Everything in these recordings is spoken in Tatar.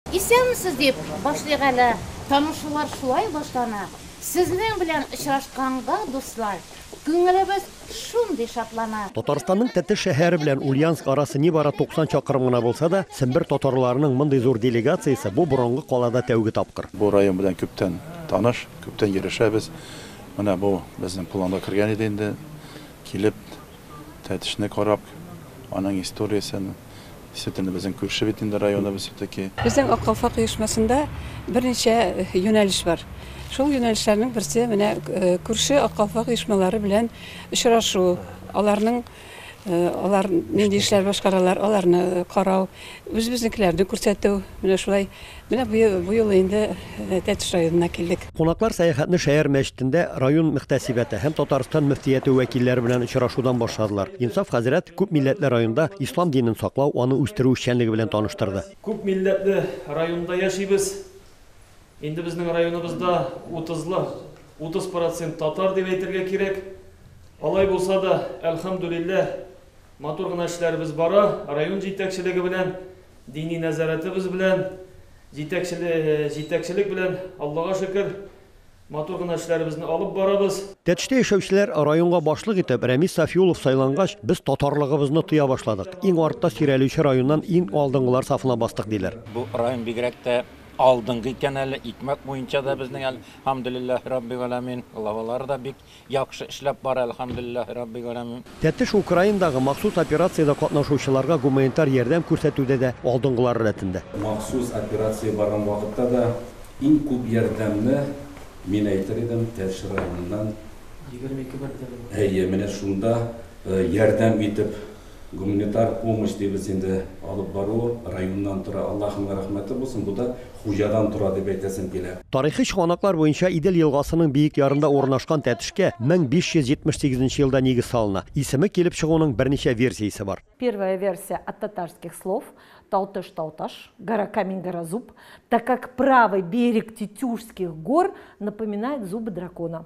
Исәнмесез, дип башлыйк әле. Танышулар шулай башлана. Сезнең белән очрашканга, дуслар, күңелебез шундый шатлана. Татарстанның Тәтеш шәһәре белән Ульянск арасы нибары 90 чакрым гына булса да, Сембер татарларының мондый зур делегациясе бу борынгы калада тәүге тапкыр. Бу район белән күптән таныш, күптән йөрешәбез. Менә бу безнең планга кергән иде инде, килеп, Тәтешне карап, аның историясен. Сөт инде безнең күрше бит инде районыбыз все-таки. Безнең Ак калфак оешмасында берничә юнәлеш бар. Шул юнәлешләрнең берсе менә күрше Ак калфак оешмалары белән очрашу, аларның алар нинди эшләр башкаралар, аларны карау, үзебезнекеләрне күрсәтү. Менә шулай Менә бу юлы инде Тәтеш районына килдек. Кунаклар сәяхәтне шәһәр мәчетендә район мөхтәсибәте һәм Татарстан мөфтияте вәкилләре белән очрашудан башладылар. Инсаф хәзрәт күп милләтле районда ислам динен саклау, аны үстерү эшчәнлеге белән таныштырды. Күп милләтле районда яшибез. Инде безнең районыбызда утызлы утыз процент татар дип әйтергә кирәк. Алай булса да, әлхәмдүлилләһ, Матур гына эшләребез бара, район җитәкчелеге белән, дини нәзарәтебез белән, җитәкчелек белән, Аллага шөкер, матур гына эшләребезне алып барабыз. Тәтештә яшәүчеләр районга башлык итеп Рәмис Сафиуллов сайлангач, без татарлыгыбызны тоя башладык, иң артта сөйрәлүче районнан иң алдынгылар сафына бастык, диләр. Бу район бигрәк тә алдынгы икән әле, икмәк буенча да безнең, әлхәмдүлилләһи раббигәаламин, главалары да бик Яхшы эшләп бар, әлхәмдүлилләһи рабби галәмин. Тәтеш Украинадагы махсус операциядә катнашучыларга гуманитар ярдәм күрсәтүдә дә алдынгылар рәтендә. Махсус операция барган вакытта да иң күп ярдәмне, мин әйтер идем, Тәтеш районыннан, Егерме ике бер тәлинкә. Әйе, менә шунда ярдәм итеп гуманитар помощь дибез инде алып бару районнан тора, Аллахының рәхмәте булсын, бу да хуҗадан тора дип әйтәсем килә. Тарихи чыганаклар буенча Идел елгасының биек ярында урынашкан Тәтешкә 1578 нче елда нигез салына. Исеме килеп чыгуның берничә версиясе бар. Первая версия от татарских слов, Талтыш, Талташ, гора камень, гора зуб, так как правый берег Тетюшских гор напоминает зубы дракона.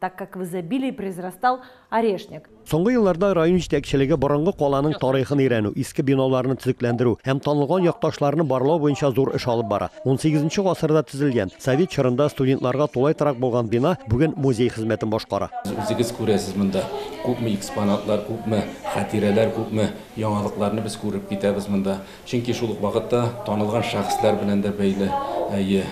так как в изобилии произрастал орешник. Соңгы елларда район җитәкчелеге борынгы каланың тарихын өйрәнү, иске биналарны төзекләндерү һәм танылган якташларны барлау буенча зур эш алып бара. 18 нче гасырда төзелгән, совет чорында студентларга тулай торак булган бина бүген музей хезмәтен башкара. Үзегез күрәсез, монда күпме экспонатлар, күпме хатирәләр, күпме яңалыкларны без күреп китәбез монда. Чөнки шул ук вакытта танылган шәхесләр белән дә бәйле, әйе,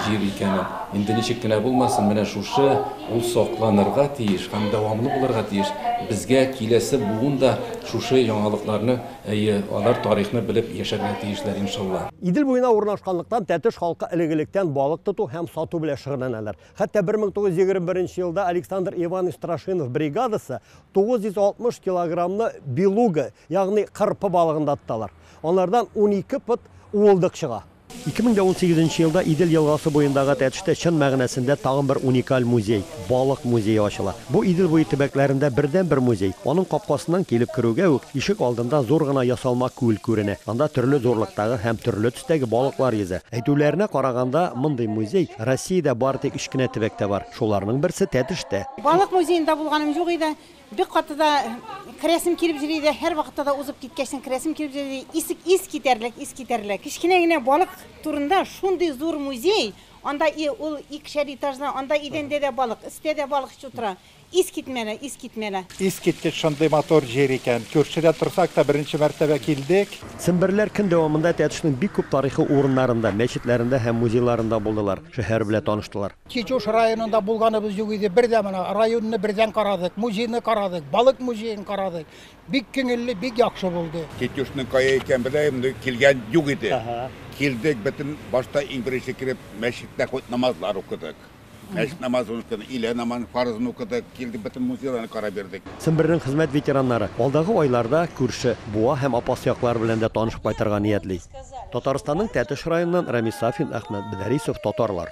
җир икәнен. Инде ничек кенә булмасын, менә шушы, ул сакланырга тиеш һәм дәвамлы булырга тиеш. Безгә киләсе буын да шушы яңалыкларны, әйе, алар тарихны белеп яшәргә тиешләр, иншалла. Идел буена урнашканлыктан, Тәтеш халкы элек-электән балык тоту һәм сату белән шөгыльләнәләр. Хәтта 1921 елда Александр Иванович Страшинов бригадасы 960 килограммны белуга, Ягъни кырпы балыгын да тоталар. Алардан унике пот уылдык чыга. 2018 нче елда Идел елгасы буендагы Тәтештә чын мәгънәсендә тагын бер уникаль музей, балык музее ачыла. Бу Идел буе төбәкләрендә бердәнбер музей. Аның капкасыннан килеп керүгә үк, ишек алдында зур гына ясалма күл күренә. Анда төрле зурлыктагы һәм төрле төстәге балыклар йөзә. Әйтүләренә караганда, мондый музей Россиядә бары тик өч кенә төбәктә бар. Шуларның берсе, Тәтештә. Балык музеенда булганым юк иде. Бик каты да керәсем килеп йөри иде, һәрвакытта да узып киткәчтен керәсем килеп йөри иде. Ис, ис китәрлек, ис китәрлек. Кечкенә генә балык турында шундый зур музей, анда и ул икешәр этажлы, анда идәндә дә балык, өстә дә балык чү тора. Ис китмәле, ис китмәле. Искиткеч шундый матур җир икән. Күршедә торсак та, беренче мәртәбә килдек. Семберләр көн дәвамында Тәтешнең бик күп тарихи урыннарында, мәчетләрендә һәм музейларында булдылар, шәһәр белә таныштылар. Чечуш районында булганыбыз юк иде. Бер дә менә районны бердән карадык, музейны карадык, балык музеен карадык. Бик күңелле, бик яхшы булды. Чечушның кая икән беләм, инде килгән юк иде. Килдек, бөтен башта иң беренче кереп, мәчеттә хоть намазлар укыдык. Мәчет намазын укыдык, илә намазын фарызын укыдык, килдек, бөтен музейларны карап йөрдек. Сембернең хезмәт ветераннары алдагы айларда күрше Буа һәм Апас яклары белән дә танышып кайтырга ниятли. Татарстанның Тәтеш районыннан Рәмис Сафин, Әхмәт Бедәрисов, Татарлар.